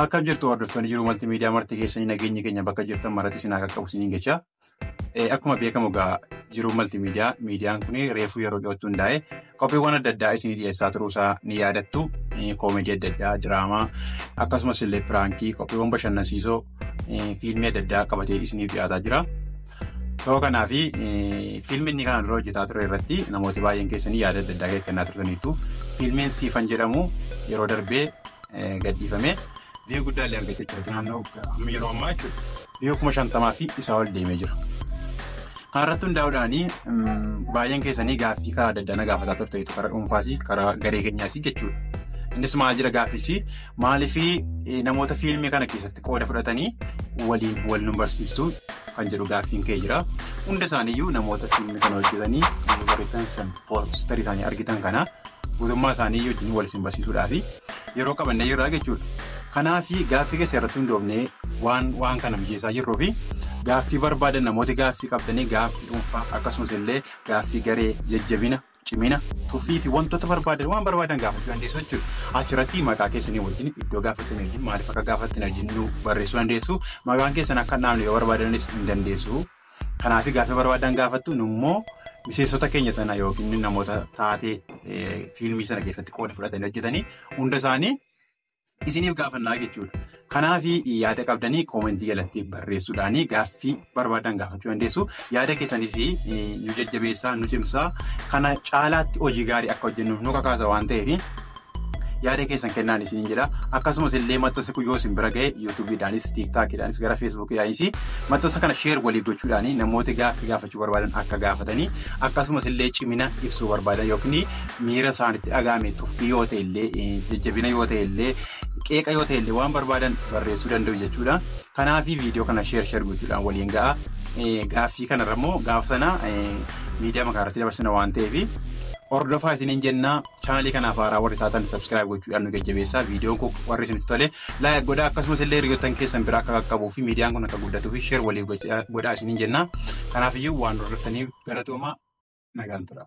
Akkam jirtu hordoftoonni jiruu maltiimiidiyaa marti keessanii nageenyi keenya bakka jirtan maratti isin haa qaqqabu isiniin jecha. Akkuma beekamu egaa jiruu maltiimiidiyaa miidiyaan kun reefuu yeroo dhiyootti hundaa'e qophiiwwan adda addaa isinii dhiyeessaa turuusaa ni yaadattu. Koomedii adda addaa, diraamaa akkasumas illee piraankii qophiiwwan bashannansiisoo fiilmii adda addaa qabatee isiniif dhiyaataa jira. Sababa kanaaf fiilmiin inni kana dura hojjetaa ture irratti namooti baay'een keessanii yaada adda addaa kennaa turtaniitu. Fiilmiin Siifan jedhamu yeroo darbee gadhiifame viiyuu guddaa illee argatee jira. Naannoo amma yeroo ammaa jechuudha. Viiyuu kuma shantamaa fi isaa ol deemee jira. Kanarratti hundaa'uudhaan baay'een keessanii gaaffii karaa adda addaa na gaafataa turte jechuudha. Karaa dhuunfaas karaa garee keenyaas jechuudha. Innis maal jira gaaffichi maaliif namoota fiilmii kana keessatti qooda fudhatanii waliin wal nu barsiistu kan jedhu gaaffiin kee jira. Hunda isaaniiyyuu namoota fiilmii kana hojjetanii barreessan poostarii isaanii argitan kana guutummaa isaanii wajjin wal isin barsiisuudhaa fi yeroo qabannee jirraa jechuudha. Kanaaf gaaffii keessa irratti hundoofnee waan waan kana mijeessaa jirruu fi gaaffii barbaadan namooti gaaffii qabdanii gaaffii dhuunfaa akkasumas illee gaaffii garee jajjabina cimina tuffii fi wantoota barbaadan waan barbaadan gaafachuu dandeessu jechuudha. Achirratti maqaa keessanii wajjin iddoo gaafattan wajjin maaliif akka gaafattan wajjin nu barreessuu dandeessu maqaan keessan akka hin dhaabne yoo barbaadanis hin dandeessu. Kanaaf gaaffii barbaadan gaafattu nummoo miseensota keenya sana yookiin namoota taatee fiilmii sana keessatti qooda fudhatanii hojjetanii hunda isaanii isiniif gaafannaa jechuudha. Kanaaf yaada qabdanii koomentii jalatti barreessuudhaan gaaffii barbaadan gaafachuu dandeessu. Yaada keessanis nu jajjabeessaa nu cimsaa kana caalaatti hojii gaarii akka hojjennuuf nu kakaasa waan ta'eef yaada keessan kennaan isiniin jedha akkasumas illee maxxansi kun yoo isin bira ga'e yuutuubiidhaanis tiiktaakiidhaanis gara feesbuukiidhaanis maxxansa kana sheer walii gochuudhaan namooti gaaffii gaafachuu barbaadan akka gaafatanii akkasumas illee cimina ibsuu barbaadan yookiin miira isaanitti dhaga'ame tuffii yoo ta'e illee jajjabina yoo ta'e illee qeeqa yoo ta'e illee waan barbaadan barreessuu danda'u jechuudha. Kanaaf viidiyoo kana sheer sheer gochuudhaan waliin ga'a. Gaaffii kanarra immoo gaafa sana miidiyaa magaalattii dabarsina waan ta'eef hordofaa isiniin jennaa. Chaanalii kanaaf haaraa warri taatan subscribe gochuudhaan nu jajjabeessaa. Viidiyoon kun warri isinitti tole like godhaa akkasumas illee hiriyoottan keessan biraa akka qaqqabuu fi miidiyaan kun akka guddatuu fi share waliif gocha- godhaa isiniin jenna. Kanaaf iyyuu waan hordoftaniif galatoomaa nagaan tura.